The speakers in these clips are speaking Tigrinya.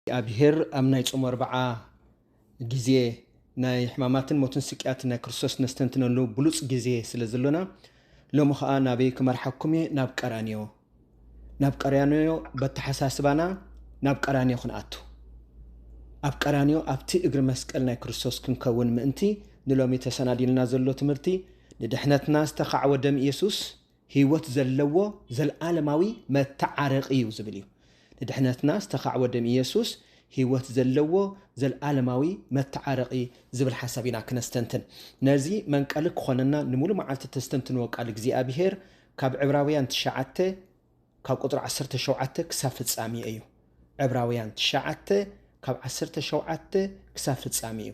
እግዚኣብሄር ኣብ ናይ ጾም ኣርብዓ ግዜ ናይ ሕማማትን ሞትን ስቅያትን ናይ ክርስቶስ ነስተንትነሉ ብሉጽ ግዜ ስለ ዘሎና ሎሚ ኸኣ ናበይ ክመርሓኩም እየ ናብ ቀራንዮ ናብ ቀራንዮ በተሓሳስባና ናብ ቀራንዮ ክንኣቱ ኣብ ቀራንዮ ኣብቲ እግሪ መስቀል ናይ ክርስቶስ ክንከውን ምእንቲ ንሎሚ ተሰናዲልና ዘሎ ትምህርቲ ንድሕነትና ዝተኻዕወ ደም ኢየሱስ ሕይወት ዘለዎ ዘልዓለማዊ መተዓረቂ እዩ ዝብል እዩ ንድሕነትና ዝተኻዕወ ደም ኢየሱስ ህይወት ዘለዎ ዘልዓለማዊ መተዓረቂ ዝብል ሓሳብ ኢና ክነስተንትን ነዚ መንቀሊ ክኾነና ንሙሉ መዓልቲ ተስተንትንዎ ቃል እግዚኣብሔር ካብ ዕብራውያን ትሽዓተ ካብ ቁጽሪ ዓሰርተ ሸውዓተ ክሳብ ፍጻሜ እዩ። ዕብራውያን ትሽዓተ ካብ ዓሰርተ ሸውዓተ ክሳብ ፍጻሜ እዩ።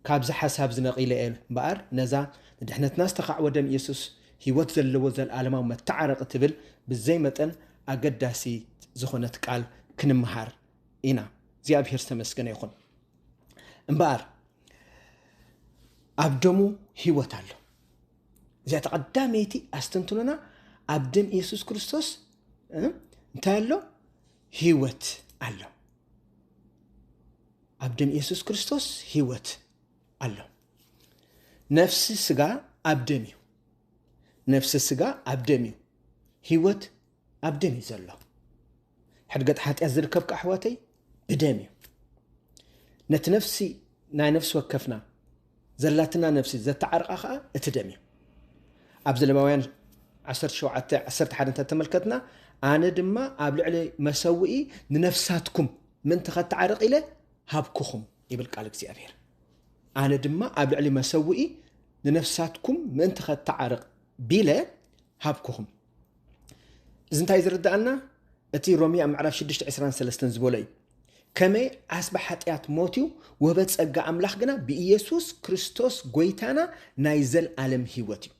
ካብዚ ሓሳብ እዚ ነቒለ እየ እምበኣር ነዛ ንድሕነትና ዝተኻዕወ ደም ኢየሱስ ህይወት ዘለዎ ዘለዓለማዊ መተዓረቒ ትብል ብዘይ መጠን ኣገዳሲት ዝኾነት ቃል ክንመሃር ኢና። እግዚኣብሔር ዝተመስገነ ይኹን። እምበኣር ኣብ ደሙ ህይወት ኣሎ። እዚኣ ተቐዳመይቲ ኣስተንትኖና ኣብ ደም ኢየሱስ ክርስቶስ እንታይ ኣሎ ህይወት ኣሎ ኣብ ደም ኢየሱስ ክርስቶስ ህይወት ኣሎ ነፍሲ ስጋ ኣብ ደም እዩ ነፍሲ ስጋ ኣብ ደም እዩ ህይወት ኣብ ደም እዩ ዘሎ ሕድገት ሓጢኣት ዝርከብ ከዓ ኣሕዋተይ ብደም እዩ ነቲ ነፍሲ ናይ ነፍሲ ወከፍና ዘላትና ነፍሲ ዘተዓርቃ ከዓ እቲ ደም እዩ ኣብ ዘለማውያን 17 11 እንተተመልከትና ኣነ ድማ ኣብ ልዕሊ መሰውኢ ንነፍሳትኩም ምእንቲ ከተዓርቕ ኢለ ሃብኩኹም ይብል ቃል እግዚኣብሔር ኣነ ድማ ኣብ ልዕሊ መሰውኢ ንነፍሳትኩም ምእንቲ ከተዓርቕ ቢለ ሃብኩኹም እዚ እንታይ ዝርዳኣና እቲ ሮሚ ኣብ ምዕራፍ 623 ዝበሎ እዩ ከመይ ዓስቢ ሓጢኣት ሞት እዩ ውህበት ፀጋ ኣምላኽ ግና ብኢየሱስ ክርስቶስ ጎይታና ናይ ዘልዓለም ህይወት እዩ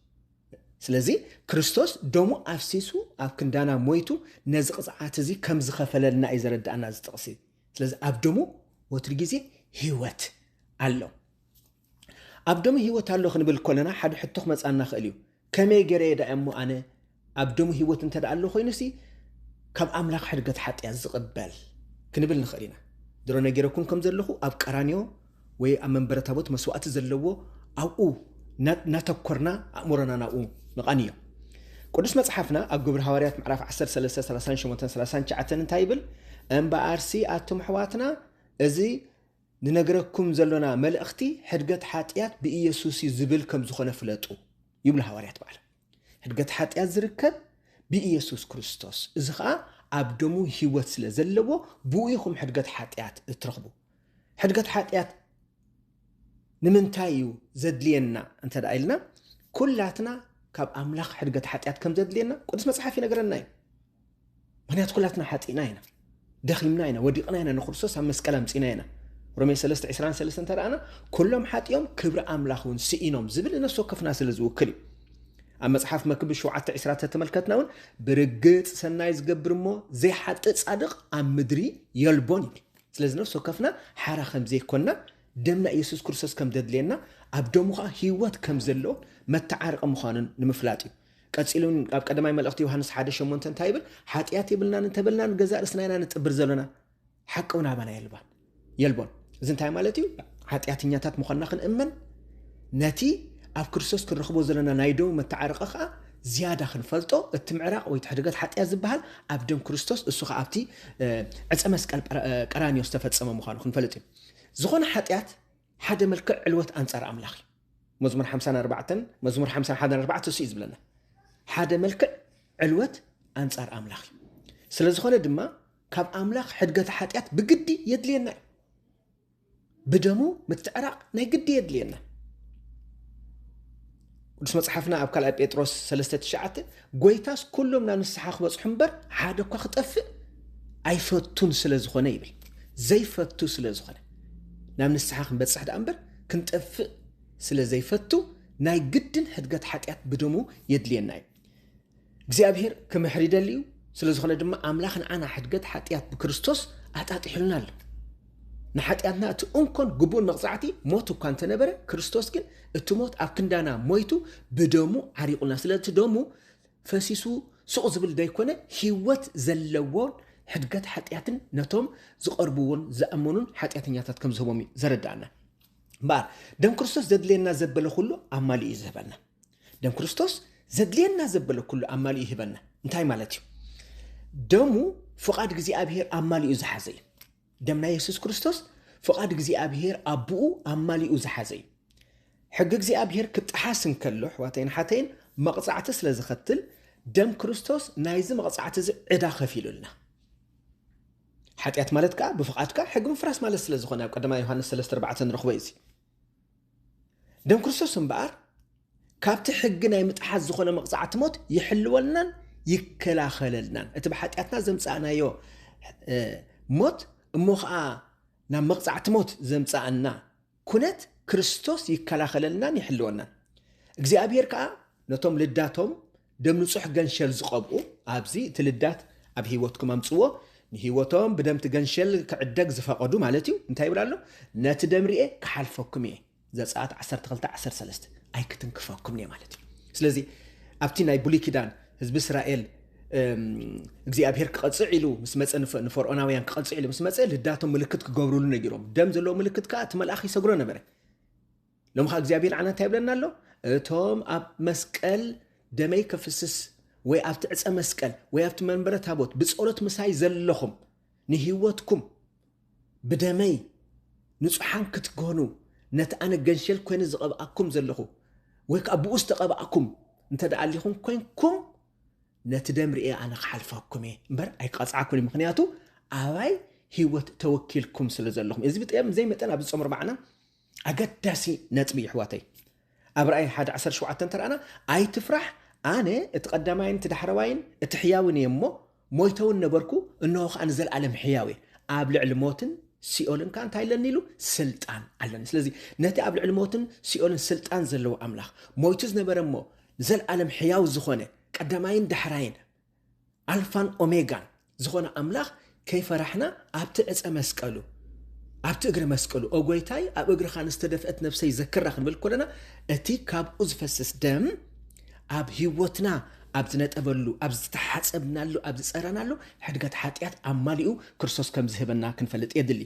ስለዚ ክርስቶስ ደሙ ኣፍሲሱ ኣብ ክንዳና ሞይቱ ነዚ ቅፅዓት እዚ ከም ዝኸፈለልና እዩ ዘረዳእና ዝጥቕሲ ስለዚ ኣብ ደሙ ወትሪ ግዜ ህይወት ኣሎ ኣብ ደሙ ህይወት ኣሎ ክንብል ከሎና ሓደ ሕቶ ክመጽኣና ክእል እዩ ከመይ ገረየ ዳኣ እሞ ኣነ ኣብ ደሙ ህይወት እንተ ኣሎ ኮይኑሲ ካብ ኣምላኽ ሕድገት ሓጢኣት ዝቕበል ክንብል ንኽእል ኢና ድሮ ነጊረኩም ከም ዘለኹ ኣብ ቀራንዮ ወይ ኣብ መንበረ ታቦት መስዋእቲ ዘለዎ ኣብኡ ናተኮርና ኣእምሮና ናብኡ ምቓን እዩ ቅዱስ መጽሓፍና ኣብ ግብሪ ሃዋርያት ምዕራፍ 13 38 39 እንታይ ይብል እምበኣርሲ ኣቱም ኣሕዋትና እዚ ንነግረኩም ዘሎና መልእኽቲ ሕድገት ሓጥያት ብኢየሱስ እዩ ዝብል ከም ዝኾነ ፍለጡ ይብሉ ሃዋርያት ባዕሎም። ሕድገት ሓጥያት ዝርከብ ብኢየሱስ ክርስቶስ እዚ ኸኣ ኣብ ደሙ ህይወት ስለ ዘለዎ ብኡ ኢኹም ሕድገት ሓጥያት እትረኽቡ። ሕድገት ሓጥያት ንምንታይ እዩ ዘድልየና እንተ ደኣ ኢልና ኩላትና ካብ ኣምላኽ ሕድገት ሓጢኣት ከም ዘድልየና ቅዱስ መጽሓፍ ይነግረና እዩ። ምክንያቱ ኩላትና ሓጢእና ኢና ደኺምና ኢና ወዲቕና ኢና ንክርስቶስ ኣብ መስቀል ኣምፂና ኢና ሮሜ 3 23 እንተረኣና ኩሎም ሓጢኦም ክብሪ ኣምላኽ እውን ስኢኖም ዝብል ነፍሲ ወከፍና ስለ ዝውክል እዩ ኣብ መፅሓፍ መክብብ 7 ዕስራ ተተመልከትና እውን ብርግፅ ሰናይ ዝገብር እሞ ዘይሓጥእ ፃድቕ ኣብ ምድሪ የልቦን ይብል ስለዚ ነፍሲ ወከፍና ሓራ ከም ዘይኮንና ደምና ኢየሱስ ክርስቶስ ከም ዘድልየና ኣብ ደሙ ከዓ ህይወት ከም ዘለዎን መተዓርቂ ምዃኑን ንምፍላጥ እዩ ቀጺሉ ኣብ ቀዳማይ መልእኽቲ ዮሃንስ ሓደ ሸሞንተ እንታይ ይብል? ሓጢኣት የብልናን እንተበልና ንገዛእ ርእስና ኢና ንጥብር ዘለና ሓቂ እውን ኣባና የልባን የልቦን። እዚ እንታይ ማለት እዩ? ሓጢኣተኛታት ምዃንና ክንእመን ነቲ ኣብ ክርስቶስ ክንረኽቦ ዘለና ናይ ደው መተዓረቐ ከዓ ዝያዳ ክንፈልጦ እቲ ምዕራቕ ወይ ትሕድገት ሓጢያ ዝበሃል ኣብ ደም ክርስቶስ እሱ ከዓ ኣብቲ ዕፀ መስቀል ቀራኒዮ ዝተፈፀመ ምዃኑ ክንፈልጥ እዩ ዝኾነ ሓጢኣት ሓደ መልክዕ ዕልወት ኣንጻር ኣምላኽ እዩ። መዝሙር ሓምሳን ኣርባዕተን መዝሙር ሓምሳን ሓደን ኣርባዕተ እሱ እዩ ዝብለና ሓደ መልክዕ ዕልወት ኣንጻር ኣምላኽ እዩ። ስለ ዝኾነ ድማ ካብ ኣምላኽ ሕድገተ ሓጢኣት ብግዲ የድልየና እዩ ብደሙ ምትዕራቕ ናይ ግዲ የድልየና ቅዱስ መጽሓፍና ኣብ ካልኣይ ጴጥሮስ ሰለስተ ትሽዓተ ጐይታስ ኵሎም ናብ ንስሓ ክበጽሑ እምበር ሓደ እኳ ክጠፍእ ኣይፈቱን ስለ ዝኾነ ይብል። ዘይፈቱ ስለ ዝኾነ ናብ ንስሓ ክንበጽሕ ደኣ እምበር ክንጠፍእ ስለ ዘይፈቱ ናይ ግድን ሕድገት ሓጢኣት ብደሙ የድልየና እዩ። እግዚኣብሔር ክምሕር ይደሊ እዩ ስለ ዝኾነ ድማ ኣምላኽ ንዓና ሕድገት ሓጢኣት ብክርስቶስ ኣጣጢሑልና ኣሎ ንሓጢኣትና እቲ እንኮን ግቡእን መቕፃዕቲ ሞት እኳ እንተነበረ ክርስቶስ ግን እቲ ሞት ኣብ ክንዳና ሞይቱ ብደሙ ዓሪቑልና ስለቲ ደሙ ፈሲሱ ሱቕ ዝብል ዘይኮነ ህይወት ዘለዎን ሕድገት ሓጢኣትን ነቶም ዝቐርብዎን ዝኣመኑን ሓጢኣተኛታት ከም ዝህቦም እዩ ዘረዳእና እምበኣር ደም ክርስቶስ ዘድልየና ዘበለ ኩሉ ኣማሊኡ እዩ ዝህበና ደም ክርስቶስ ዘድልየና ዘበለ ኩሉ ኣማሊኡ ይህበና እንታይ ማለት እዩ ደሙ ፍቓድ እግዚኣብሄር ኣማሊኡ ዝሓዘ እዩ ደም ናይ የሱስ ክርስቶስ ፍቓድ እግዚኣብሄር ኣቦኡ ኣማሊኡ ዝሓዘ እዩ ሕጊ እግዚኣብሄር ክጠሓስ እንከሎ ኣሕዋተይን ሓተይን መቕፃዕቲ ስለ ዝኸትል ደም ክርስቶስ ናይዚ መቕፃዕቲ እዚ ዕዳ ከፊሉልና ሓጢኣት ማለት ከዓ ብፍቓድካ ሕጊ ምፍራስ ማለት ስለ ዝኾነ ኣብ ቀዳማ ዮሃንስ 34 ንረኽቦ እዩ ደም ክርስቶስ እምበኣር ካብቲ ሕጊ ናይ ምጥሓስ ዝኾነ መቕጻዕቲ ሞት ይሕልወልናን ይከላኸለልናን እቲ ብሓጢኣትና ዘምጻእናዮ ሞት እሞ ከዓ ናብ መቕጻዕቲ ሞት ዘምጻኣና ኩነት ክርስቶስ ይከላኸለልናን ይሕልወናን እግዚኣብሔር ከዓ ነቶም ልዳቶም ደም ንጹሕ ገንሸል ዝቀብኡ ኣብዚ እቲ ልዳት ኣብ ሂወትኩም ኣምጽዎ ንሂወቶም ብደምቲ ገንሸል ክዕደግ ዝፈቀዱ ማለት እዩ እንታይ ይብል ኣሎ ነቲ ደም ሪኤ ክሓልፈኩም እየ ዘጸኣት ዓሰርተ ክልተ ዓሰርተ ሰለስተ ኣይክትንክፈኩምን እየ ማለት እዩ ስለዚ ኣብቲ ናይ ብሉይ ኪዳን ህዝቢ እስራኤል እግዚኣብሄር ክቐፅዕ ኢሉ ምስ መፀ ንፈርኦናውያን ክቐፅዕ ኢሉ ምስ መፀ ልዳቶም ምልክት ክገብርሉ ነጊሮም ደም ዘለዎ ምልክት ከዓ እቲ መልኣኽ ይሰግሮ ነበረ ሎሚ ኸኣ እግዚኣብሄር ንዓና እንታይ ይብለና ኣሎ? እቶም ኣብ መስቀል ደመይ ከፍስስ ወይ ኣብቲ ዕፀ መስቀል ወይ ኣብቲ መንበረ ታቦት ብጸሎት ምሳይ ዘለኹም ንህይወትኩም ብደመይ ንጹሓን ክትኮኑ ነቲ ኣነ ገንሸል ኮይኑ ዝቐብኣኩም ዘለኹ ወይ ከዓ ብኡ ዝተቐብኣኩም እንተ ደኣ ኣሊኹም ኮንኩም ነቲ ደም ርኤ ኣነ ክሓልፈኩም እየ እምበር ኣይክቐፅዓኩን እዩ ምክንያቱ ኣባይ ሂወት ተወኪልኩም ስለ ዘለኹም እዚ ብጠም ዘይመጠን ኣብዚ ፆም ርባዕና ኣገዳሲ ነጥቢ ይሕዋተይ ኣብ ራእይ ሓደ ዓሰርተ ሸውዓተ እንተረኣና ኣይትፍራሕ ኣነ እቲ ቀዳማይን እቲ ዳሕረዋይን እቲ ሕያውን እየ እሞ ሞይተ እውን ነበርኩ እንሆ ከዓ ንዘለኣለም ሕያው እየ ኣብ ልዕሊ ሞትን ሲኦልን ከዓ እንታይ ኣለኒ ኢሉ ስልጣን ኣለኒ ስለዚ ነቲ ኣብ ልዕሊ ሞትን ሲኦልን ስልጣን ዘለዎ ኣምላኽ ሞይቱ ዝነበረ እሞ ዘለኣለም ሕያው ዝኾነ ቀዳማይን ዳሕራይን ኣልፋን ኦሜጋን ዝኾነ ኣምላኽ ከይፈራሕና ኣብቲ ዕፀ መስቀሉ ኣብቲ እግረ መስቀሉ ኦ ጎይታይ ኣብ እግርኻ ንዝተደፍአት ነፍሰይ ዘክራ ክንብል ኮለና እቲ ካብኡ ዝፈስስ ደም ኣብ ህይወትና ኣብ ዝነጠበሉ ኣብ ዝተሓፀብናሉ ኣብ ዝፀረናሉ ሕድገት ሓጢኣት ኣማሊኡ ክርስቶስ ከም ዝህበና ክንፈልጥ የድሊ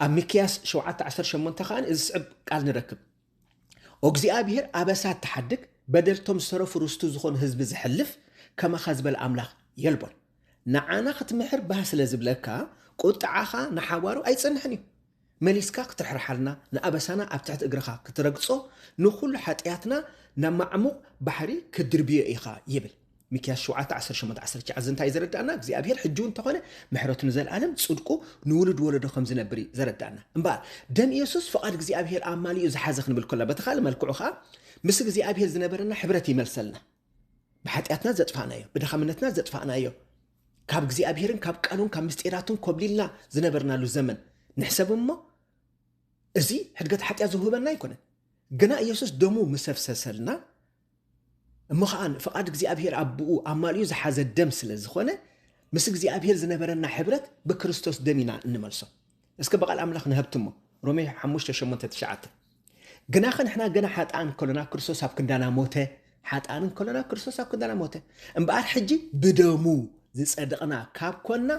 ኣብ ሚክያስ 7:18 ከዓ እዚ ዝስዕብ ቃል ንረክብ ኦ እግዚኣብሄር ኣበሳ እትሓድግ በደልቶም ዝተረፉ ርስቱ ዝኾኑ ህዝቢ ዝሕልፍ ከማኻ ዝበለ ኣምላኽ የልቦን ንዓና ክትምሕር ባህ ስለ ዝብለካ ቁጥዓኻ ንሓዋሩ ኣይጸንሕን እዩ መሊስካ ክትርሕርሓልና ንኣበሳና ኣብ ትሕቲ እግርኻ ክትረግጾ ንኹሉ ሓጥያትና ናብ ማዕሙቕ ባሕሪ ክትድርብዮ ኢኻ ይብል ሚክያስ ሸውዓተ ዓሰርተ ሸሞንተ ዓሰርተ ትሽዓተ እዚ እንታይ እዩ ዘረድኣና እግዚኣብሄር ሕጂ እውን እንተኾነ ምሕረቱ ንዘለኣለም ጽድቁ ንውሉድ ወለዶ ከም ዝነብር እዩ ዘረድኣና እምበኣር ደም ኢየሱስ ፍቓድ እግዚኣብሄር ኣማሊኡ ዝሓዘ ክንብል ከሎ በቲ ካልእ መልክዑ ከኣ ምስ እግዚኣብሄር ዝነበረና ሕብረት ይመልሰልና ብሓጢኣትና ዘጥፋእናዮ ብድኻምነትና ዘጥፋእናዮ ካብ እግዚኣብሄርን ካብ ቃሉን ካብ ምስጢራቱን ኮብሊልና ዝነበርናሉ ዘመን ንሕሰብ እሞ እዚ ሕድገት ሓጢኣት ዝውህበና ኣይኮነን ግና ኢየሱስ ደሙ ምሰፍሰሰልና እሞ ኸኣ ፍቓድ እግዚኣብሄር ኣቦኡ ኣማሊኡ ዝሓዘ ደም ስለ ዝኾነ ምስ እግዚኣብሄር ዝነበረና ሕብረት ብክርስቶስ ደም ኢና እንመልሶ። እስከ ብቓል ኣምላኽ ንሀብትሞ ሮሜ ሓሙሽተ ሸሞንተ ትሽዓተ ግናኸ ንሕና ገና ሓጥኣን ከሎና ክርስቶስ ኣብ ክንዳና ሞተ ሓጥኣን ከሎና ክርስቶስ ኣብ ክንዳና ሞተ እምበኣር ሕጂ ብደሙ ዝጸደቕና ካብ ኰንና፣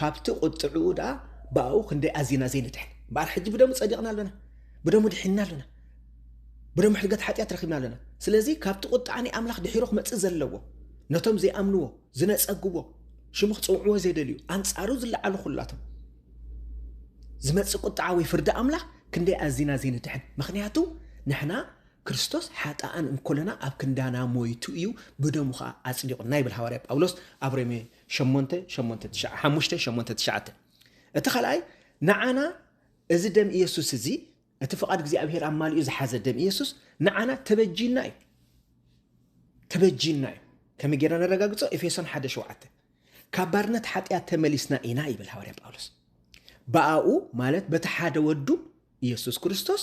ካብቲ ቝጥዕኡ ደኣ ብኣኡ ክንደይ ኣዚና ዘይንድሕን! እምበኣር ሕጂ ብደሙ ጸዲቕና ኣሎና፣ ብደሙ ድሒንና ኣሎና፣ ብደሙ ሕድገት ሓጢኣት ረኺብና ኣሎና። ስለዚ ካብቲ ቝጥዓ ናይ ኣምላኽ ድሒሩ ክመጽእ ዘለዎ፣ ነቶም ዘይኣምንዎ፣ ዝነጸግዎ፣ ሽሙ ክጽውዕዎ ዘይደልዩ፣ ኣንጻሩ ዝለዓሉ ዅላቶም፣ ዝመጽእ ቝጥዓ ወይ ፍርዲ ኣምላኽ ክንደይ ኣዚና ዘይንድሕን! ምኽንያቱ ንሕና ክርስቶስ ሓጥኣን እንኮለና ኣብ ክንዳና ሞይቱ እዩ ብደሙ ኸኣ ኣጽዲቑና ይብል ሃዋርያ ጳውሎስ ኣብ ሮሜ ሸሞንተ ሸሞንተ ትሽዓ ሓሙሽተ ሸሞንተ ትሽዓተ እቲ ካልኣይ ንዓና እዚ ደም ኢየሱስ እዚ እቲ ፍቓድ እግዚኣብሔር ኣማሊኡ ዝሓዘ ደም ኢየሱስ ንዓና ተበጂና እዩ ተበጂና እዩ ከመይ ጌርና ነረጋግጾ ኤፌሶን ሓደ ሸውዓተ ካብ ባርነት ሓጢኣት ተመሊስና ኢና ይብል ሃዋርያ ጳውሎስ ብኣኡ ማለት በቲ ሓደ ወዱ ኢየሱስ ክርስቶስ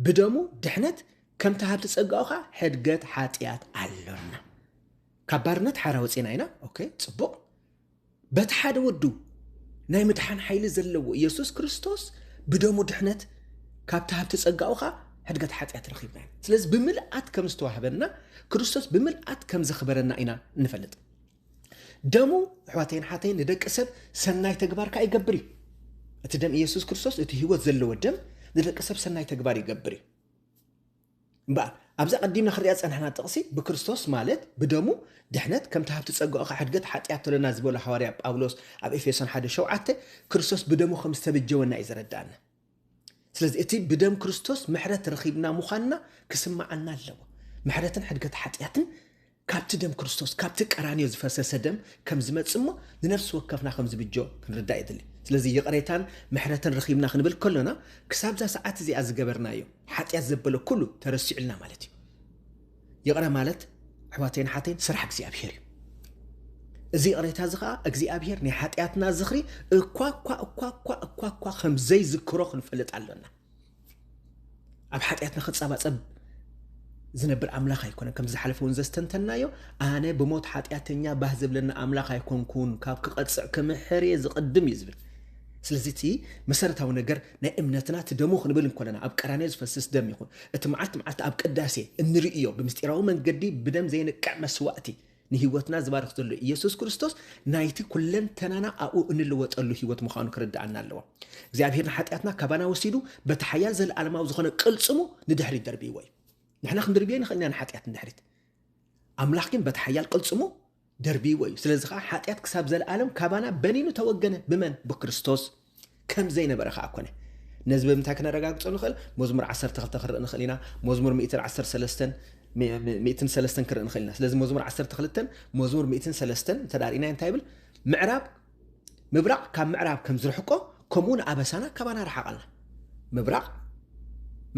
ብደሙ ድሕነት ከምቲ ሃብቲ ጸጋኡ ከዓ ሕድገት ሓጢኣት ኣሎና ካብ ባርነት ሓራ ወፂና ኢና ኦኬ ፅቡቕ በቲ ሓደ ወዱ ናይ ምድሓን ሓይሊ ዘለዎ ኢየሱስ ክርስቶስ ብደሙ ድሕነት ካብቲ ሃብቲ ጸጋኡ ኸዓ ሕድገት ሓጢኣት ረኺብና ኢና ስለዚ ብምልኣት ከም ዝተዋህበና ክርስቶስ ብምልኣት ከም ዘኽበረና ኢና ንፈልጥ ደሙ ኣሕዋተይን ሓተይን ንደቂ ሰብ ሰናይ ተግባር ከዓ ይገብር እዩ እቲ ደም ኢየሱስ ክርስቶስ እቲ ህይወት ዘለዎ ደም ንደቂ ሰብ ሰናይ ተግባር ይገብር እዩ እምበኣር ኣብዚ ቀዲምና ክንሪኣ ዝፀናሕና ጥቕሲ ብክርስቶስ ማለት ብደሙ ድሕነት ከምቲ ሃብቲ ፀጋኡ ከዓ ሕድገት ሓጢኣት ተሎና ዝበሎ ሃዋርያ ጳውሎስ ኣብ ኤፌሶን ሓደ ሸውዓተ ክርስቶስ ብደሙ ከም ዝተበጀወና እዩ ዘረዳእና ስለዚ እቲ ብደም ክርስቶስ ምሕረት ረኺብና ምዃንና ክስምዓና ኣለዎ። ምሕረትን ሕድገት ሓጢኣትን ካብቲ ደም ክርስቶስ ካብቲ ቀራንዮ ዝፈሰሰ ደም ከም ዝመጽእ እሞ ንነፍሲ ወከፍና ከም ዝብጆ ክንርዳእ የድሊ ስለዚ ይቕሬታን ምሕረትን ረኺብና ክንብል ከሎና ክሳብዛ ሰዓት እዚኣ ዝገበርናዮ ሓጢኣት ዘበለ ኩሉ ተረሲዑልና ማለት እዩ ይቕረ ማለት ኣሕዋተይን ኣሓተይን ስራሕ እግዚኣብሄር እዩ። እዚ ይቕሬታ እዚ ከዓ እግዚኣብሄር ናይ ሓጢኣትና ዝኽሪ እኳ እኳ እኳ እኳ እኳ እኳ ከም ዘይዝክሮ ክንፈልጥ ኣሎና። ኣብ ሓጢኣትና ክጸባጸብ ዝነብር ኣምላኽ ኣይኮነን ከም ዝሓለፈ እውን ዘስተንተናዮ ኣነ ብሞት ሓጢኣተኛ ባህ ዝብለኒ ኣምላኽ ኣይኮንኩን ካብ ክቐፅዕ ክምሕር እየ ዝቕድም እዩ ዝብል ስለዚ እቲ መሰረታዊ ነገር ናይ እምነትና እቲ ደሙ ክንብል እንኮለና ኣብ ቀራንዮ ዝፈስስ ደም ይኹን እቲ መዓልቲ መዓልቲ ኣብ ቅዳሴ እንርእዮ ብምስጢራዊ መንገዲ ብደም ዘይንቅዕ መስዋእቲ ንህይወትና ዝባርኽ ዘሎ ኢየሱስ ክርስቶስ ናይቲ ኩለንተናና ኣብኡ እንልወጠሉ ህይወት ምዃኑ ክርድኣና ኣለዎ። እግዚኣብሔር ንሓጢኣትና ካባና ወሲዱ በቲ ሓያል ዘለኣለማዊ ዝኾነ ቅልጽሙ ንድሕሪት ደርብይዎ እዩ። ንሕና ክንድርብዮ ንኽእል ኢና ንሓጢኣት ንድሕሪት። ኣምላኽ ግን በቲ ሓያል ቅልጽሙ ደርቢይዎ እዩ ስለዚ ከኣ ሓጢኣት ክሳብ ዘልኣለም ካባና በኒኑ ተወገነ ብመን ብክርስቶስ ከም ዘይነበረ ከኣ ኮነ ነዚ ብምንታይ ክነረጋግጾ ንኽእል መዝሙር ዓሰርተ ክልተ ክንርኢ ንኽእል ኢና መዝሙር ሚእትን ዓሰርተ ሰለስተን ሚእትን ሰለስተን ክንርኢ ንኽእል ኢና ስለዚ መዝሙር ዓሰርተ ክልተን መዝሙር ሚእትን ሰለስተን ተዳሪእና እንታይ ይብል ምዕራብ ምብራቕ ካብ ምዕራብ ከም ዝርሕቆ ከምኡውን ኣበሳና ካባና ረሓቓልና። ምብራቕ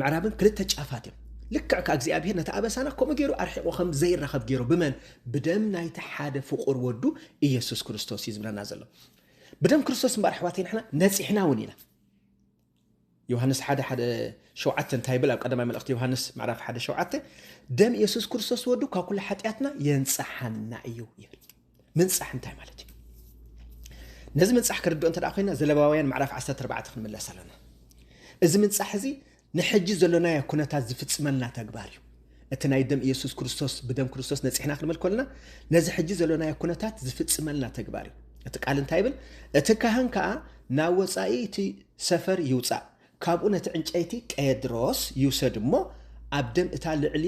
ምዕራብን ክልተ ጫፋት እዮም። ልክዕ ከኣ እግዚኣብሔር ነቲ ኣበሳና ከምኡ ገይሩ ኣርሒቑ ከም ዘይራኸብ ገይሩ ብመን? ብደም ናይቲ ሓደ ፍቑር ወዱ ኢየሱስ ክርስቶስ እዩ ዝብለና ዘሎ። ብደም ክርስቶስ እምበኣር ኣሕዋተይ ንሕና ነጺሕና እውን ኢና። ዮሃንስ ሓደ ሓደ ሸውዓተ እንታይ ይብል ኣብ ቀዳማይ መልእኽቲ ዮሃንስ ምዕራፍ ሓደ ሸውዓተ ደም የሱስ ክርስቶስ ወዱ ካብ ኩሉ ሓጢኣትና የንጽሓና እዩ ይብል ምንጻሕ እንታይ ማለት እዩ ነዚ ምንጻሕ ክርድኦ እንተ ኮይና ዘለባውያን ምዕራፍ 14 ክንምለስ ኣለና እዚ ምንጻሕ እዚ ንሕጂ ዘሎናዮ ኩነታት ዝፍጽመልና ተግባር እዩ እቲ ናይ ደም ኢየሱስ ክርስቶስ ብደም ክርስቶስ ነጺሕና ክንብል ኮልና ነዚ ሕጂ ዘሎናዮ ኩነታት ዝፍጽመልና ተግባር እዩ እቲ ቃል እንታይ ይብል እቲ ካህን ከዓ ናብ ወፃኢ እቲ ሰፈር ይውፃእ ካብኡ ነቲ ዕንጨይቲ ቄድሮስ ይውሰድ እሞ ኣብ ደም እታ ልዕሊ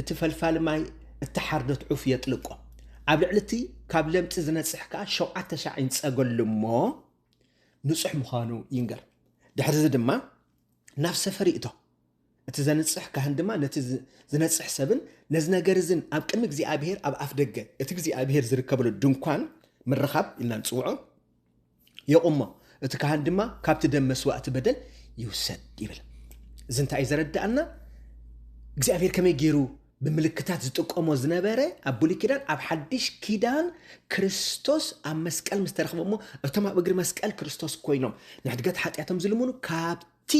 እቲ ፈልፋሊ ማይ እተሓርደት ዑፍ የጥልቆ ኣብ ልዕሊ እቲ ካብ ለምፂ ዝነፅሕ ከዓ ሸውዓተ ሻዕ ይንፀገሉ እሞ ንፁሕ ምዃኑ ይንገር ድሕርዚ ድማ ናብ ሰፈር ይእቶ እቲ ዘንጽሕ ካህን ድማ ነቲ ዝነጽሕ ሰብን ነዚ ነገር እዝን ኣብ ቅድሚ እግዚኣብሔር ኣብ ኣፍ ደገ እቲ እግዚኣብሔር ዝርከበሉ ድንኳን ምርኻብ ኢልና ንጽውዖ የቑሞ እቲ ካህን ድማ ካብቲ ደም መስዋእቲ በደል ይውሰድ ይብል እዚ እንታይ እዩ ዘረዳእና እግዚኣብሔር ከመይ ገይሩ ብምልክታት ዝጥቀሞ ዝነበረ ኣብ ብሉይ ኪዳን ኣብ ሓድሽ ኪዳን ክርስቶስ ኣብ መስቀል ምስ ተረኽበ እሞ እቶም ኣብ እግሪ መስቀል ክርስቶስ ኮይኖም ንሕድገት ሓጢኣቶም ዝልምኑ ካብቲ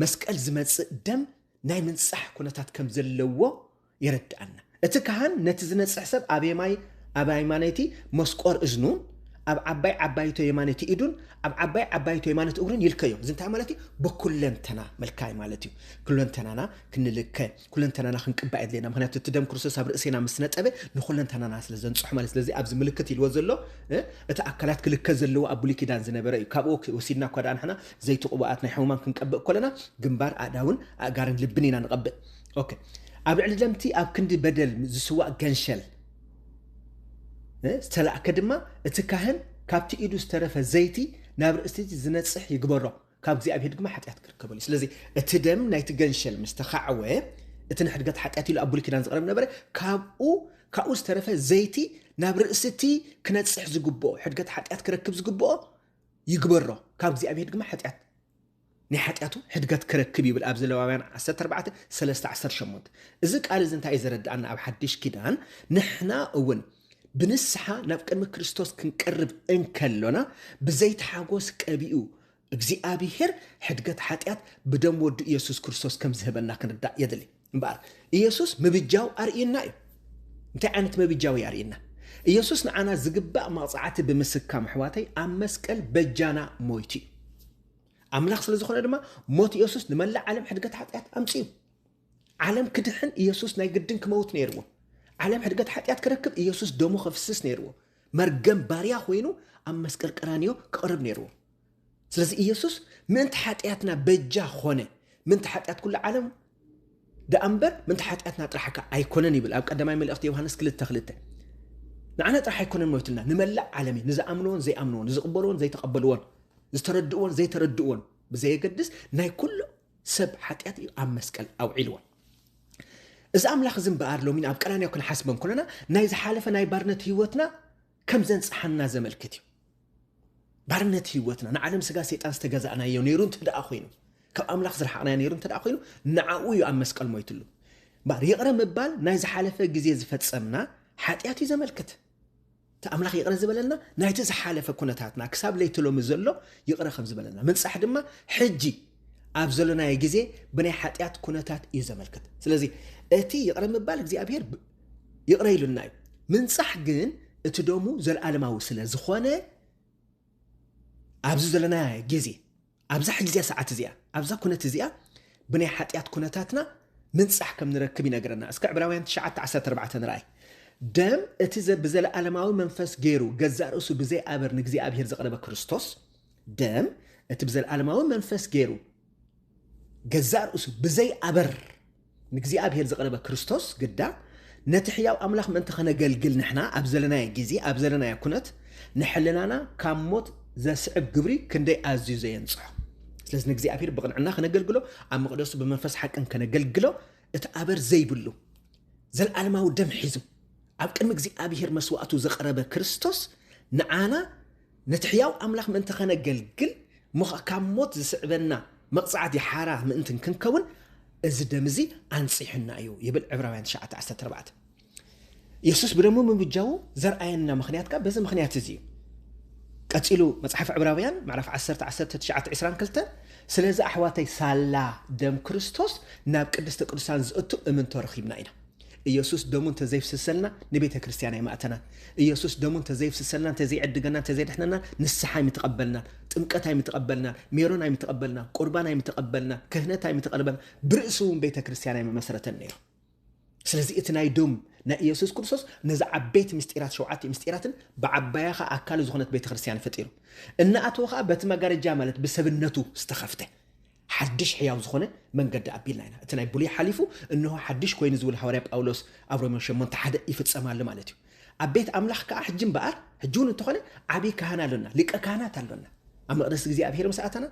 መስቀል ዝመጽእ ደም ናይ ምንጻሕ ኩነታት ከም ዘለዎ የረድኣና። እቲ ካህን ነቲ ዝነጽሕ ሰብ ኣብ የማይ ኣብ ኣይማነይቲ መስቆር እዝኑን ኣብ ዓባይ ዓባይቶ የማነይቲ ኢዱን ኣብ ዓባይ ዓባይቶ የማነት እግሩን ይልከዮ። እዚ እንታይ ማለት እዩ? ብኩለንተና ምልካይ ማለት እዩ። ኩለንተናና ክንልከ ኩለንተናና ክንቅባእ የድልየና ምክንያቱ እቲ ደም ክርስቶስ ኣብ ርእሴና ምስ ነጠበ ንኩለንተናና ስለ ዘንጽሖ ማለት ስለዚ ኣብዚ ምልክት ኢልዎ ዘሎ እቲ ኣካላት ክልከ ዘለዎ ኣብ ብሉይ ኪዳን ዝነበረ እዩ ካብኡ ወሲድና እኳ ደኣ ንሕና ዘይቲ ቅቡኣት ናይ ሕሙማን ክንቀብእ ኮለና ግንባር ኣእዳውን ኣእጋርን ልብን ኢና ንቐብእ ኦኬ ኣብ ልዕሊ ለምቲ ኣብ ክንዲ በደል ዝስዋእ ገንሸል ዝተላእከ ድማ እቲ ካህን ካብቲ ኢዱ ዝተረፈ ዘይቲ ናብ ርእስቲ ዝነጽሕ ይግበሮ ካብ እግዚኣብሄር ድማ ሓጢኣት ክርከበሉ እዩ። ስለዚ እቲ ደም ናይቲ ገንሸል ምስ ተኻዕወ እቲ ንሕድገት ሓጢኣት ኢሉ ኣብ ብሉይ ኪዳን ዝቐረብ ነበረ ካብኡ ካብኡ ዝተረፈ ዘይቲ ናብ ርእሲ እቲ ክነጽሕ ዝግብኦ ሕድገት ሓጢኣት ክረክብ ዝግብኦ ይግበሮ ካብ እግዚኣብሄር ድማ ሓጢኣት ናይ ሓጢኣቱ ሕድገት ክረክብ ይብል ኣብ ዘለዋውያን 14 3 18 እዚ ቃል እዚ እንታይ እዩ ዘረድኣና ኣብ ሓድሽ ኪዳን ንሕና እውን ብንስሓ ናብ ቅድሚ ክርስቶስ ክንቀርብ እንከሎና ብዘይቲ ሓጎስ ቀቢኡ እግዚኣብሄር ሕድገት ሓጢኣት ብደም ወዱ ኢየሱስ ክርስቶስ ከም ዝህበና ክንርዳእ የድሊ እምበኣር ኢየሱስ ምብጃው ኣርእዩና እዩ እንታይ ዓይነት ምብጃው እዩ ኣርእዩና ኢየሱስ ንዓና ዝግባእ መቕፃዕቲ ብምስካም ኣሕዋተይ ኣብ መስቀል በጃና ሞይቱ እዩ ኣምላኽ ስለ ዝኾነ ድማ ሞት ኢየሱስ ንመላእ ዓለም ሕድገት ሓጢኣት ኣምፅኡ ዓለም ክድሕን ኢየሱስ ናይ ግድን ክመውት ነይርዎ። ዓለም ሕድገት ሓጢኣት ክረክብ ኢየሱስ ደሙ ከፍስስ ነይርዎ። መርገም ባርያ ኮይኑ ኣብ መስቀል ቀራንዮ ክቐርብ ነይርዎ። ስለዚ ኢየሱስ ምእንቲ ሓጢኣትና በጃ ኾነ ምእንቲ ሓጢኣት ኩሉ ዓለም ደኣ እምበር ምእንቲ ሓጢኣትና ጥራሕካ ኣይኮነን ይብል ኣብ ቀዳማይ መልእኽቲ ዮሃንስ ክልተ ክልተ ንዓና ጥራሕ ኣይኮነን ሞይቱልና ንመላእ ዓለም እዩ ንዝኣምንዎን ዘይኣምንዎን ዝቕበልዎን ዘይተቐበልዎን ዝተረድእዎን ዘይተረድእዎን ብዘየገድስ ናይ ኩሉ ሰብ ሓጢኣት እዩ ኣብ መስቀል ኣውዒልዎ። እዚ ኣምላኽ እዚ እምበኣር ሎሚን ኣብ ቀራንዮ ክንሓስቦ እንኮለና ናይ ዝሓለፈ ናይ ባርነት ህይወትና ከም ዘንጽሓና ዘመልክት እዩ። ባርነት ህይወትና ንዓለም ስጋ ሰይጣን ዝተገዛእናዮ ነይሩ እንተ ደኣ ኮይኑ ካብ ኣምላኽ ዝረሓቕናዮ ነይሩ እንተ ደኣ ኮይኑ ንዓኡ እዩ ኣብ መስቀል ሞይትሉ እምበር ይቕረ ምባል ናይ ዝሓለፈ ግዜ ዝፈጸምና ሓጢኣት እዩ ዘመልክት እቲ ኣምላኽ ይቕረ ዝበለና ናይቲ ዝሓለፈ ኩነታትና ክሳብ ለይቲ ሎሚ ዘሎ ይቕረ ከም ዝበለና ምንጻሕ ድማ ሕጂ ኣብ ዘሎናዮ ግዜ ብናይ ሓጢኣት ኩነታት እዩ ዘመልክት ስለዚ እቲ ይቕረ ምባል እግዚኣብሄር ይቕረ ኢሉና እዩ ምንጻሕ ግን እቲ ደሙ ዘለኣለማዊ ስለ ዝኾነ ኣብዚ ዘለና ግዜ ኣብዛ ሕጂዚኣ ሰዓት እዚኣ ኣብዛ ኩነት እዚኣ ብናይ ሓጢኣት ኩነታትና ምንጻሕ ከም ንረክብ ይነግረና እስከ ዕብራውያን ትሽዓተ ዓሰርተ ኣርባዕተ ንርኣይ ደም እቲ ዘ- ብዘለኣለማዊ መንፈስ ገይሩ ገዛእ ርእሱ ብዘይ ኣበር ንእግዚኣብሔር ዘቕረበ ክርስቶስ ደም እቲ ብዘለኣለማዊ መንፈስ ገይሩ ገዛእ ርእሱ ብዘይ ኣበር ንእግዚኣብሔር ዝቐረበ ክርስቶስ ግዳ ነቲ ሕያው ኣምላኽ ምእንቲ ከነገልግል ንሕና ኣብ ዘለናዮ ጊዜ ኣብ ዘለናዮ ኩነት ንሕልናና ካብ ሞት ዘስዕብ ግብሪ ክንደይ ኣዝዩ ዘየንጽሖ ስለዚ ንእግዚኣብሔር ብቕንዕና ከነገልግሎ ኣብ መቕደሱ ብመንፈስ ሓቅን ከነገልግሎ እቲ ኣበር ዘይብሉ ዘለዓለማዊ ደም ሒዙ ኣብ ቅድሚ እግዚኣብሔር መስዋእቱ ዘቐረበ ክርስቶስ ንዓና ነቲ ሕያው ኣምላኽ ምእንቲ ኸነገልግል እሞ ኸኣ ካብ ሞት ዚስዕበና መቕጻዕቲ ሓራ ምእንቲ እንክንከውን እዚ ደም እዚ ኣንጺሑና እዩ ይብል ዕብራውያን ትሽዓተ ዓሰርተ ኣርባዕተ የሱስ ብደሙ ምብጃዉ ዘርኣየና ምኽንያት ከኣ በዚ ምኽንያት እዚ እዩ ቀጺሉ መጽሓፍ ዕብራውያን ምዕራፍ 10 19 22 ስለዚ ኣሕዋተይ ሳላ ደም ክርስቶስ ናብ ቅድስተ ቅዱሳን ዝእቱ እምንቶ ረኺብና ኢና ኢየሱስ ደሙ እንተዘይፍስሰልና ንቤተክርስትያን ኣይማእተናን። ኢየሱስ ደሙ እንተዘይፍስሰልና እንተዘይዕድገና እንተዘይድሕነና ንስሓ ኣይምተቐበልናን፣ ጥምቀት ኣይምተቐበልናን፣ ሜሮን ኣይምተቐበልናን፣ ቁርባን ኣይምተቐበልናን፣ ክህነት ኣይምተቐበልናን፣ ብርእሱ እውን ቤተክርስትያን ኣይምመሰረተን ነይሩ። ስለዚ እቲ ናይ ደም ናይ ኢየሱስ ክርስቶስ ነዚ ዓበይቲ ምስጢራት ሸውዓተ ምስጢራትን ብዓባያ ከዓ ኣካሉ ዝኾነት ቤተክርስትያን ፈጢሩ እናኣተወ ከዓ በቲ መጋረጃ ማለት ብሰብነቱ ዝተኸፍተ ሓድሽ ሕያው ዝኾነ መንገዲ ኣቢልና ኢና። እቲ ናይ ብሉይ ሓሊፉ እንሆ ሓድሽ ኮይኑ ዝብል ሃዋርያ ጳውሎስ ኣብ ሮሜ ሸሞንተ ሓደ ይፍጸም ኣሎ ማለት እዩ። ኣብ ቤት ኣምላኽ ከኣ ሕጂ እምበኣር ሕጂ እውን እንተኾነ ዓብዪ ካህን ኣሎና፣ ሊቀ ካህናት ኣሎና። ኣብ መቕደስ እግዚኣብሄር ምስ ኣተና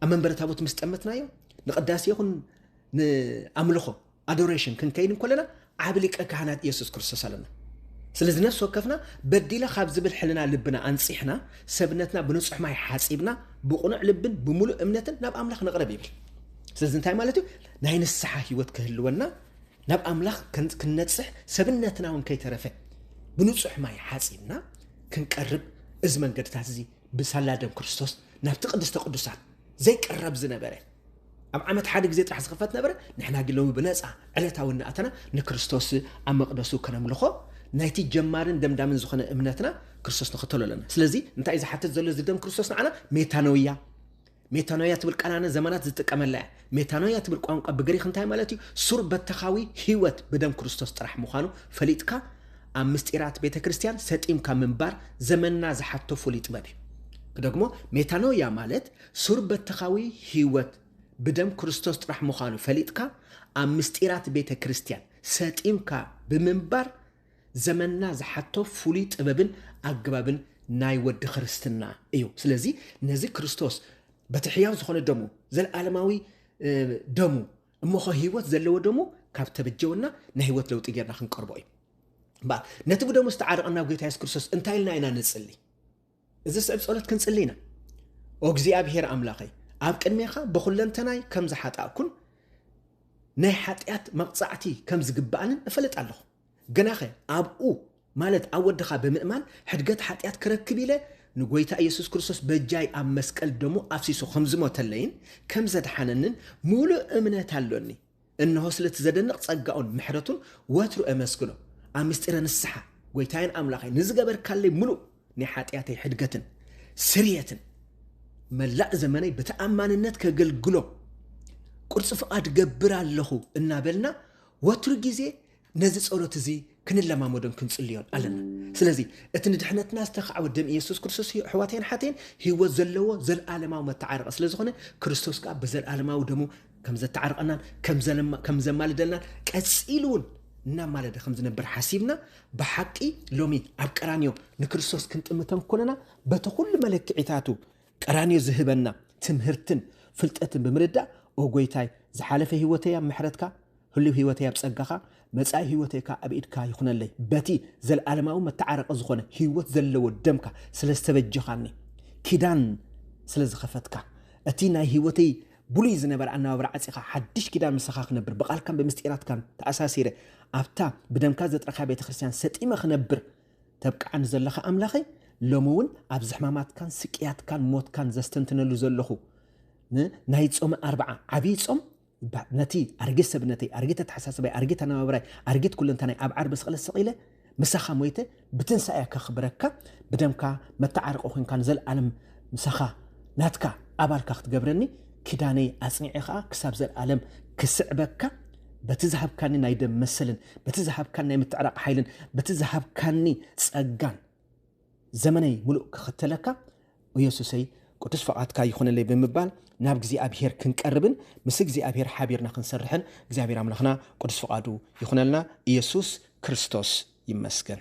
ኣብ መንበረ ታቦት ምስ ጠመትናዮ ንቅዳሴ ይኹን ንኣምልኾ ኣዶሬሽን ክንከይድ እንኮለና ዓቢ ሊቀ ካህናት ኢየሱስ ክርስቶስ ኣለና። ስለዚ ነፍሲ ወከፍና በዲለ ካብ ዝብል ሕልና ልብና ኣንጺሕና ሰብነትና ብንጹሕ ማይ ሓጺብና ብቕኑዕ ልብን ብምሉእ እምነትን ናብ ኣምላኽ ንቕረብ ይብል። ስለዚ እንታይ ማለት እዩ ናይ ንስሓ ህይወት ክህልወና ናብ ኣምላኽ ክንነጽሕ ሰብነትና እውን ከይተረፈ ብንጹሕ ማይ ሓጺብና ክንቀርብ እዚ መንገድታት እዚ ብሳላ ደም ክርስቶስ ናብቲ ቅድስተ ቅዱሳት ዘይቀረብ ዝነበረ ኣብ ዓመት ሓደ ግዜ ጥራሕ ዝኽፈት ነበረ፣ ንሕና ግን ሎሚ ብነጻ ዕለታዊ እናኣተና ንክርስቶስ ኣብ መቕደሱ ከነምልኾ ናይቲ ጀማርን ደምዳምን ዝኾነ እምነትና ክርስቶስ ንኽተሎ ኣለና። ስለዚ እንታይ እዩ ዝሓትት ዘሎ እዚ ደም ክርስቶስ ንዓና? ሜታኖያ ሜታኖያ ትብል ቃል ኣነ ዘመናት ዝጥቀመላ እያ። ሜታኖያ ትብል ቋንቋ ብግሪክ እንታይ ማለት እዩ? ሱር በተኻዊ ህይወት ብደም ክርስቶስ ጥራሕ ምዃኑ ፈሊጥካ ኣብ ምስጢራት ቤተ ክርስቲያን ሰጢምካ ምንባር ዘመንና ዝሓቶ ፍሉይ ጥበብ እዩ። ክደግሞ ሜታኖያ ማለት ሱር-በተኻዊ ሕይወት ብደም ክርስቶስ ጥራሕ ምዃኑ ፈሊጥካ ኣብ ምስጢራት ቤተ ክርስቲያን ሰጢምካ ብምንባር ዘመንና ዝሓቶ ፍሉይ ጥበብን ኣገባብን ናይ ወዲ ክርስትና እዩ። ስለዚ ነዚ ክርስቶስ በቲ ሕያው ዝኾነ ደሙ ዘለዓለማዊ ደሙ እሞኸ ሕይወት ዘለዎ ደሙ ካብ ተበጀወና ናይ ሕይወት ለውጢ ጌርና ክንቀርቦ እዩ። እምበኣር ነቲ ብደሙ ዝተዓረቐና ጐይታ የሱስ ክርስቶስ እንታይ ኢልና ኢና ንጽሊ? ዝስዕብ ጸሎት ክንጽሊ ኢና። ኦ እግዚኣብሄር ኣምላኸይ፣ ኣብ ቅድሜኻ ብኹለንተናይ ከም ዝሓጣእኩን ናይ ሓጢኣት መቕጻዕቲ ከም ዝግብኣንን እፈልጥ ኣለኹ። ግናኸ ኣብኡ ማለት ኣብ ወድኻ ብምእማን ሕድገት ሓጢኣት ክረክብ ኢለ ንጎይታ ኢየሱስ ክርስቶስ በጃይ ኣብ መስቀል ደሙ ኣፍሲሱ ከም ዝሞተለይን ከም ዘድሓነንን ምሉእ እምነት ኣሎኒ። እንሆ ስለቲ ዘደንቕ ጸጋኡን ምሕረቱን ወትሩ ኤመስግኖ። ኣብ ምስጢረ ንስሓ ጎይታየን ኣምላኸይ ንዝገበርካለይ ምሉእ ናይ ሓጢኣተይ ሕድገትን ስርየትን መላእ ዘመነይ ብተኣማንነት ከገልግሎ ቁርጽ ፍቓድ ገብር ኣለኹ እናበልና ወትሩ ግዜ ነዚ ጸሎት እዚ ክንለማመዶን ክንጽልዮን ኣለና ስለዚ እቲ ንድሕነትና ዝተካዕወ ደም ኢየሱስ ክርስቶስ እዩ ኣሕዋተይን ሓተይን ህይወት ዘለዎ ዘለኣለማዊ መተዓረቐ ስለ ዝኾነ ክርስቶስ ከዓ ብዘለኣለማዊ ደሙ ከም ዘተዓርቐናን ከም ዘማልደልናን ቀጺሉ እውን እናማለደ ከም ዝነብር ሓሲብና ብሓቂ ሎሚ ኣብ ቀራንዮ ንክርስቶስ ክንጥምተን ኮለና በቲ ኩሉ መለክዒታቱ ቀራንዮ ዝህበና ትምህርትን ፍልጠትን ብምርዳእ ኦ ጎይታይ ዝሓለፈ ህይወተይ ኣብ ምሕረትካ ህልው ህይወተይ ኣብ ጸጋኻ መጻኢ ህይወተይ ከኣ ኣብ ኢድካ ይኹነለይ በቲ ዘለዓለማዊ መተዓረቂ ዝኾነ ህይወት ዘለዎ ደምካ ስለ ዝተበጀኻኒ ኪዳን ስለ ዝኸፈትካ እቲ ናይ ህይወተይ ብሉይ ዝነበረ ኣነባብራ ዓጺኻ ሓድሽ ኪዳን ምሳኻ ክነብር ብቓልካን ብምስጢራትካን ተኣሳሲረ ኣብታ ብደምካ ዘጥረኻ ቤተ ክርስቲያን ሰጢመ ክነብር ተብቅዓኒ ዘለኻ ኣምላኸይ ሎሚ እውን ኣብዚ ሕማማትካን ስቅያትካን ሞትካን ዘስተንትነሉ ዘለኹ ን ናይ ጾመ ኣርብዓ ዓብዪ ጾም ብ- ነቲ ኣረጊት ሰብነተይ ኣረጊት ኣተሓሳስባይ ኣረጊት ኣነባብራይ ኣረጊት ኩለንተናይ ኣብ ዓርቢ ስቕለት ሰቒለ ምሳኻ ሞይተ ብትንሳኤ ከኽብረካ ብደምካ መተዓረቂ ኮንካ ንዘለኣለም ምሳኻ ናትካ ኣባልካ ክትገብረኒ ኪዳነይ ኣጽኒዐ ኸኣ ክሳብ ዘለኣለም ክስዕበካ በቲ ዝሃብካኒ ናይ ደም መሰልን በቲ ዝሃብካኒ ናይ ምትዕራቕ ሓይልን በቲ ዝሃብካኒ ጸጋን ዘመነይ ምሉእ ክኽተለካ ኢየሱሰይ ቅዱስ ፍቓድካ ይኹነለይ ብምባል ናብ እግዚኣብሄር ክንቀርብን ምስ እግዚኣብሄር ሓቢርና ክንሰርሕን እግዚኣብሄር ኣምላኽና ቅዱስ ፍቓዱ ይኹነልና ኢየሱስ ክርስቶስ ይመስገን